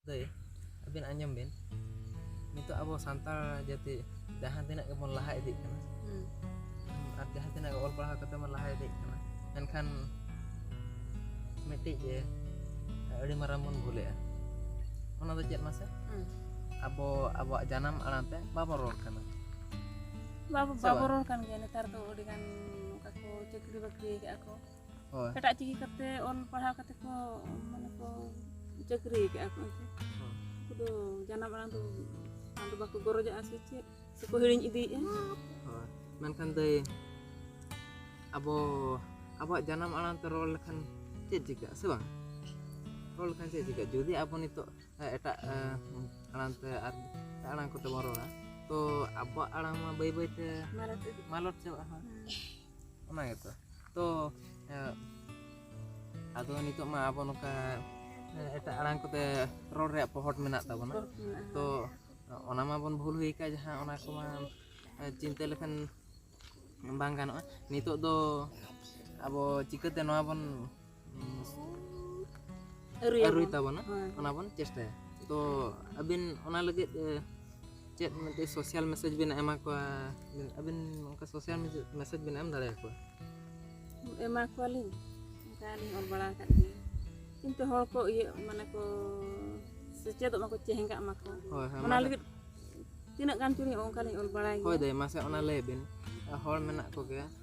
ᱫᱟᱹᱭ ᱟᱹᱵᱤᱱ ᱟᱸᱡᱚᱢ ᱵᱤᱱ ᱱᱤᱛᱚᱜ ᱟᱵᱚ ᱥᱟᱱᱛᱟᱲ ᱡᱟᱹᱛᱤ ᱡᱟᱦᱟᱸ ᱛᱤᱱᱟᱹᱜ ᱜᱮᱵᱚᱱ ᱞᱟᱦᱟ ᱤᱫᱤᱜ ᱠᱟᱱᱟ ᱟᱨ ᱡᱟᱦᱟᱸ ᱛᱤᱱᱟᱹᱜ ᱚᱞ ᱯᱟᱲᱦᱟᱣ ᱠᱟᱛᱮ ᱵᱚᱱ ᱞᱟᱦᱟ ᱤᱫᱤᱜ ᱠᱟᱱᱟ ᱢᱮᱱᱠᱷᱟᱱ ᱢᱤᱫᱴᱤᱡ ᱮ, ᱟᱹᱰᱤ ᱢᱟᱨᱟᱝ ᱵᱚᱱ ᱵᱷᱩᱞᱮᱜᱼᱟ ᱚᱱᱟ ᱫᱚ ᱪᱮᱫ ᱢᱟᱥᱮ ᱦᱩᱸ. ᱟᱵᱚ ᱟᱵᱚᱣᱟᱜ ᱡᱟᱱᱟᱢ ᱟᱲᱟᱝ ᱛᱮ ᱵᱟᱵᱚᱱ ᱨᱚᱲ ᱠᱟᱱᱟ ᱵᱟᱵᱚ ᱥᱮ ᱵᱟᱵᱚ ᱵᱟᱝ? ᱨᱚᱲ ᱠᱟᱱ ᱜᱮᱭᱟ ᱱᱮᱛᱟᱨ ᱫᱚ ᱟᱹᱰᱤ ᱜᱟᱱ ᱚᱱᱠᱟ ᱠᱚ ᱪᱟᱹᱠᱨᱤ ᱵᱟᱹᱠᱨᱤ ᱠᱟᱜᱼᱟ ᱠᱚ ᱦᱳᱭ ᱮᱴᱟᱜ ᱪᱤᱠᱤ ᱠᱟᱛᱮ ᱚᱞ ᱯᱟᱲᱦᱟᱣ ᱠᱟᱛᱮ ᱠᱚ ᱢᱟᱱᱮ ᱠᱚ ᱪᱟᱹᱠᱨᱤ ᱠᱟᱜᱼᱟ ᱠᱚ ᱮᱱᱛᱮ ᱩᱱᱠᱩ ᱫᱚ ᱡᱟᱱᱟᱢ ᱟᱲᱟᱝ ᱫᱚ ᱟᱫᱚ ᱵᱟᱠᱚ ᱜᱚᱨᱚᱡᱟᱜᱼᱟ ᱥᱮ ᱪᱮᱫ ᱥᱮᱠᱚ ᱦᱤᱲᱤᱧ ᱤᱫᱤᱭᱮᱫᱼᱟ ᱦᱳᱭ ᱢᱮᱱᱠᱷᱟᱱ ᱫᱟᱹᱭ ᱟᱵᱚ ᱟᱵᱚᱣᱟᱜ ᱡᱟᱱᱟᱢ ᱟᱲᱟᱝ ᱛᱮ ᱨᱚᱲ ᱞᱮᱠᱷᱟᱱ ᱪᱮᱫ ᱪᱤᱠᱟᱹᱜᱼᱟ ᱥᱮ ᱵᱟᱝ ᱨᱚᱲ ᱞᱮᱠᱷᱟᱱ ᱪᱮᱫ ᱪᱤᱠᱟᱹᱜᱼᱟ ᱡᱩᱫᱤ ᱟᱵᱚ ᱱᱤᱛᱚᱜ ᱮᱸ, ᱮᱴᱟᱜ ᱮᱸ, ᱟᱲᱟᱝ ᱛᱮ ᱟᱨ ᱮᱴᱟᱜ ᱟᱲᱟᱝ ᱠᱚᱛᱮ ᱵᱚᱱ ᱨᱚᱲᱟ ᱛᱚ ᱟᱵᱚᱣᱟᱜ ᱟᱲᱟᱝ ᱢᱟ ᱵᱟᱹᱭ ᱵᱟᱹᱭᱛᱮ ᱢᱟᱨᱟᱴᱷᱤ ᱢᱟᱞᱚᱴ ᱪᱟᱵᱟᱜᱼᱟ ᱦᱳᱭ ᱚᱱᱟ ᱜᱮᱛᱚ ᱛᱚ ᱟᱫᱚ ᱱᱤᱛᱚᱜ ᱢᱟ ᱟᱵᱚ ᱱᱚᱝᱠᱟ ᱮᱴᱟᱜ ᱟᱲᱟᱝ ᱠᱚᱛᱮ ᱨᱚᱲ ᱨᱮᱭᱟᱜ ᱯᱚᱦᱚᱴ ᱢᱮᱱᱟᱜ ᱛᱟᱵᱚᱱᱟ ᱛᱚ ᱚᱱᱟ ᱢᱟᱵᱚᱱ ᱵᱷᱩᱞ ᱦᱩᱭ ᱟᱠᱟᱫ ᱡᱟᱦᱟᱸ ᱚᱱᱟ ᱠᱚᱢᱟ ᱪᱤᱱᱛᱟᱹ ᱞᱮᱠᱷᱟᱱ ᱵᱟᱝ ᱜᱟᱱᱚᱜᱼᱟ ᱱᱤᱛᱚᱜ ᱫᱚ ᱟᱵᱚ ᱪᱤᱠᱟᱹᱛᱮ ᱱᱚᱣᱟ ᱵᱚᱱ ᱟᱹᱨᱩᱭ ᱛᱟᱵᱚᱱᱟ ᱚᱱᱟ ᱵᱚᱱ ᱪᱮᱥᱴᱟᱭᱟ ᱛᱚ ᱟᱹᱵᱤᱱ ᱚᱱᱟ ᱞᱟᱹᱜᱤᱫ ᱪᱮᱫ ᱢᱤᱫᱴᱤᱡ ᱥᱳᱥᱟᱞ ᱢᱮᱥᱮᱡᱽ ᱵᱤᱱ ᱮᱢᱟ ᱠᱚᱣᱟ ᱟᱹᱵᱤᱱ ᱚᱱᱠᱟ ᱥᱳᱥᱟᱞ ᱢᱮᱥᱮᱡᱽ ᱵᱤᱱ ᱮᱢ ᱫᱟᱲᱮ ᱟᱠᱚᱣᱟ ᱮᱢᱟ ᱠᱚᱣᱟᱞᱤᱧ ᱚᱱᱠᱟ ᱞᱤᱧ ᱚᱞ ᱵᱟᱲᱟ ᱟᱠᱟᱫ ᱜᱮᱭᱟ ᱠᱤᱱᱛᱩ ᱦᱚᱲ ᱠᱚ ᱤᱭᱟᱹ ᱢᱟᱱᱮ ᱠᱚ ᱥᱮᱪᱮᱫᱚᱜ ᱢᱟᱠᱚ ᱪᱮᱦᱮᱸᱜᱟᱜ ᱢᱟᱠᱚ ᱚᱱᱟ ᱞᱟᱹᱜᱤᱫ ᱛᱤᱱᱟᱹᱜ ᱜᱟᱱ ᱪᱚᱞᱤᱧ ᱚᱱᱠᱟᱞᱤᱧ ᱚᱞ ᱵᱟᱲᱟᱭ ᱦᱳᱭ ᱫᱟᱹᱭ ᱢᱟᱥᱮ ᱚᱱᱟ ᱞᱟᱹᱭ ᱵᱤᱱ ᱦᱚᱲ ᱢᱮᱱᱟᱜ ᱠᱚᱜᱮᱭᱟ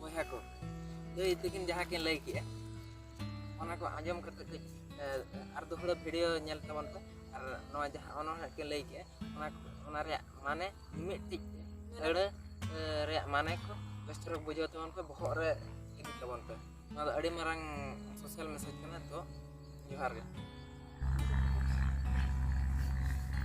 ᱵᱚᱭᱦᱟ ᱠᱚ ᱞᱟᱹᱭ ᱛᱟᱹᱠᱤᱱ ᱡᱟᱦᱟᱸ ᱠᱤᱱ ᱞᱟᱹᱭ ᱠᱮᱜᱼᱟ ᱚᱱᱟ ᱠᱚ ᱟᱸᱡᱚᱢ ᱠᱟᱛᱮ ᱠᱟᱹᱡ ᱟᱨ ᱫᱚᱦᱲᱟ ᱵᱷᱤᱰᱤᱭᱳ ᱧᱮᱞ ᱛᱟᱵᱚᱱ ᱯᱮ ᱟᱨ ᱱᱚᱣᱟ ᱡᱟᱦᱟᱸ ᱚᱱᱚᱬᱦᱮᱸ ᱠᱤᱱ ᱞᱟᱹᱭ ᱠᱮᱜᱼᱟ ᱚᱱᱟ ᱚᱱᱟ ᱨᱮᱭᱟᱜ ᱢᱟᱱᱮ ᱢᱤᱫᱴᱤᱡ ᱟᱹᱲᱟᱹ ᱨᱮᱭᱟᱜ ᱢᱟᱱᱮ ᱠᱚ ᱵᱮᱥ ᱪᱮᱦᱨᱟ ᱵᱩᱡᱷᱟᱹᱣ ᱛᱟᱵᱚᱱ ᱯᱮ ᱵᱚᱦᱚᱜ ᱨᱮ ᱤᱫᱤ ᱛᱟᱵᱚᱱ ᱯᱮ ᱱᱚᱣᱟ ᱫᱚ ᱟᱹᱰᱤ ᱢᱟᱨᱟᱝ ᱥᱳᱥᱟᱞ ᱢᱮᱥᱮᱡᱽ ᱠᱟᱱᱟ ᱛᱚ ᱡᱚᱦᱟᱨ ᱜᱮ